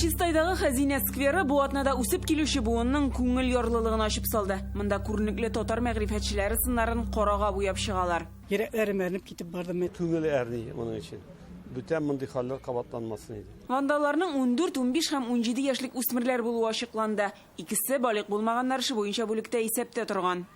Чистайдагы Хәзинә скверы бу атнада үсеп килүче буынның күңел ярлылыгын ачып салды. Монда күренекле татар мәгърифәтчеләре сыннарын карага буяп чыгалар. Йөрәкләрем әрнеп китеп барды мен. Күңел әрни моның өчен. Бүтән мондый хәлләр кабатланмасын иде. Вандалларның 14, 15 һәм 17 яшьлек үсмерләр булуы ачыкланды. Икесе, балигъ булмаганнар, эше буенча бүлектә исәптә торган.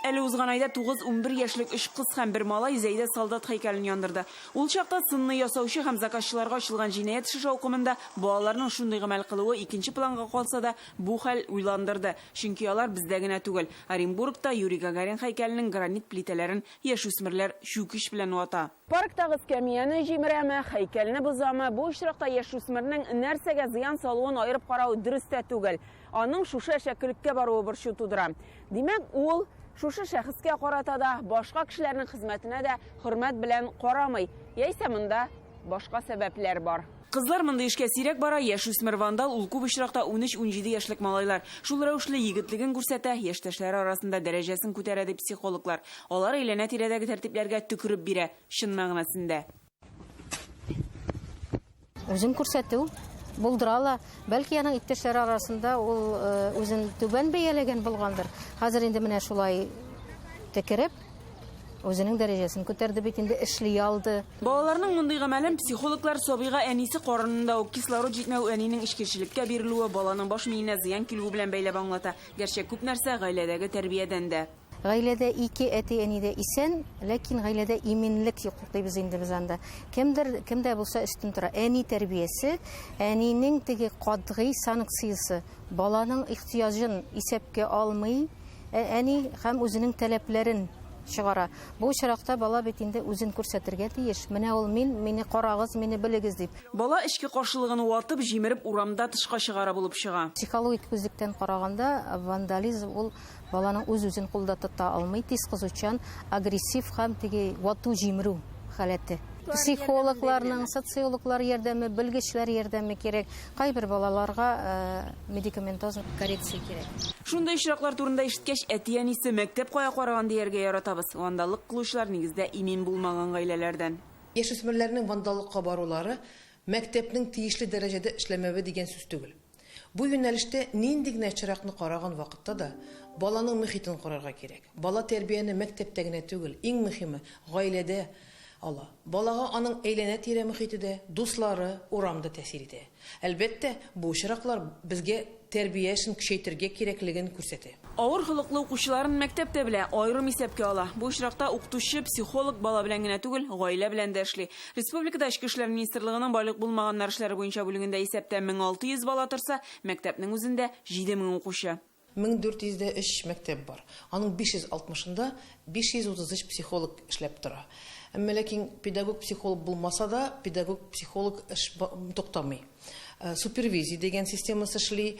Әле узган айда тугыз-унбер яшьлек өч кыз һәм бер малай Зәйдә солдат һәйкәлен яндырды. Ул чакта сынны ясаучы һәм заказчыларга ачылган җинаять эше шаукымында балаларның шундый гамәл кылуы икенче планга калса да, бу хәл уйландырды, чөнки алар бездә генә түгел, Оренбургта Юрий Гагарин һәйкәленең гранит плитәләрен яшүсмерләр чүкеч белән вата. Парктагы эскәмияне җимерәме, һәйкәлне бозамы, бу очракта яшүсмернең нәрсәгә зыян салуын аерып карау дөрес тә түгел. Аның шушы әшәкелеккә баруы борчу тудыра. Димәк, ул шушы шәхескә карата да, башка кешеләрнең хезмәтенә дә хөрмәт белән карамый. Яисә монда башка сәбәпләр бар. Кызлар мондый эшкә сирәк бара, яшүсмер вандал ул күп очракта унөч-унҗиде яшьлек малайлар. Шул рәвешле егетлеген күрсәтә, яшьтәшләре арасында дәрәҗәсен күтәрә, ди психологлар. Алар әйләнә-тирәдәге тәртипләргә төкереп бирә, чын мәгънәсендә. Үзен күрсәтү булдыра ала. Бәлки аның иптәшләре арасында ул үзен түбән бәяләгән булгандыр. Хәзер инде менә шулай төкереп, Үзенең дәрәҗәсен күтәрде бит инде, эшли алды. Балаларның мондый гамәлен психологлар сабыйга әнисе карынында ук кислород җитмәү әнинең эчкерчелеккә бирелүе, баланың баш миенә зыян килүе белән бәйләп аңлата. Гәрчә күп нәрсә гаиләдәге тәрбиядән дә. Гаиләдә ике әти-әни дә исән, ләкин гаиләдә иминлек юк дибез инде без анда. Кемдер, кемдә булса өстен тора. Әни тәрбиясе, әнинең теге катгый санкциясе. Баланың ихтыяҗын исәпкә алмый, ә әни һәм үзенең таләпләрен чыгара. Бу очракта бала бит инде үзен күрсәтергә тиеш, менә ул мин, мине карагыз, мине белегез дип. Бала эчке каршылыгын ватып, җимереп урамда тышка чыгара булып чыга. Психологик күзлектән караганда, вандализм ул Баланың үз-үзен кулда тота алмый, тиз кызучан, агрессив һәм теге вату-җимерү халәте. Психологларның, социологлар ярдәме, белгечләр ярдәме кирәк. Кайбер балаларга медикаментоз коррекция кирәк. Шундый очраклар турында ишеткәч, әти-әнисе, мәктәп кая караган дияргә яратабыз. Вандаллык кылучылар, нигездә, имин булмаган гаиләләрдән. Яшүсмерләрнең вандаллыкка барулары, мәктәпнең тиешле дәрәҗәдә эшләмәве дигән сүз түгел. Бу юнәлештә нинди генә очракны караган вакытта да, баланың мөхитен карарга кирәк. Бала тәрбияне мәктәптә генә түгел, иң мөхиме, гаиләдә ала. Балага аның әйләнә-тирә мөхите дә, дуслары, урам да тәэсир итә. Әлбәттә, бу очраклар безгә тәрбия эшен көчәйтергә кирәклеген күрсәтә. Авыр холыклы укучыларын мәктәп тә белә, аерым исәпкә ала. Бу очракта укытучы, психолог бала белән генә түгел, гаилә белән дә эшли. Республикада Эчке эшләр министрлыгының байлык булмаганнар эшләре буенча бүлегендә исәптә 1600 бала торса, мәктәпнең үзендә, 7000 укучы. 1400 дә өч мәктәп бар. Аның 560 ында 533 психолог эшләп тора. Әмма ләкин педагог-психолог булмаса да, педагог-психолог эш туктамый. Супервизия дигән системасы эшли,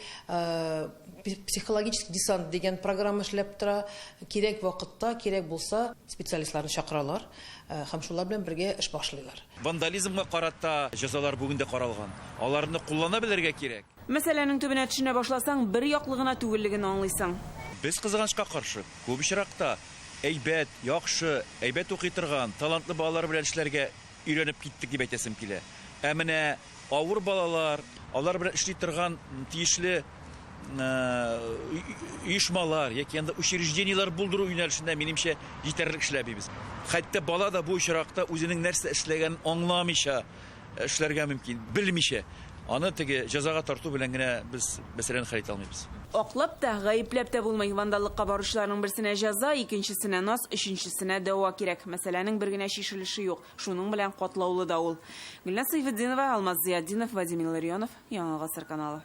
психологический десант дигән программа эшләп тора. Кирәк вакытта, кирәк булса, специалистларны чакыралар һәм шулар белән бергә эш башлыйлар. Вандализмга карата җәзалар бүген дә каралган. Аларны куллана белергә кирәк. Мәсьәләнең төбенә төшенә башласаң, бер яклы гына түгеллеген аңлыйсың. Без, кызганычка каршы, күп очракта әйбәт, яхшы, әйбәт укый торган, талантлы балалар белән эшләргә Өйрәнеп киттек дип әйтәсем килә. Ә менә авыр балалар, алар белән эшли торган тиешле оешмалар яки анда учреждениеләр булдыру юнәлешендә минемчә җитәрлек эшләмибез. Хәтта бала да бу очракта үзенең нәрсә эшләгәнен аңламыйча эшләргә мөмкин, белмичә. Аны теге җәзага тарту белән генә без мәсьәләне хәл итә алмыйбыз. Аклап та, гаепләп тә булмый. Вандаллыкка баручыларның берсенә җәза, икенчесенә наз, өченчесенә дәва кирәк. Мәсьәләнең бер генә чишелеше юк. Шуның белән катлаулы да ул. Гөлназ Сәйфетдинова, Алмаз Зыятдинов, Вадим Илларионов, Яңа гасыр каналы.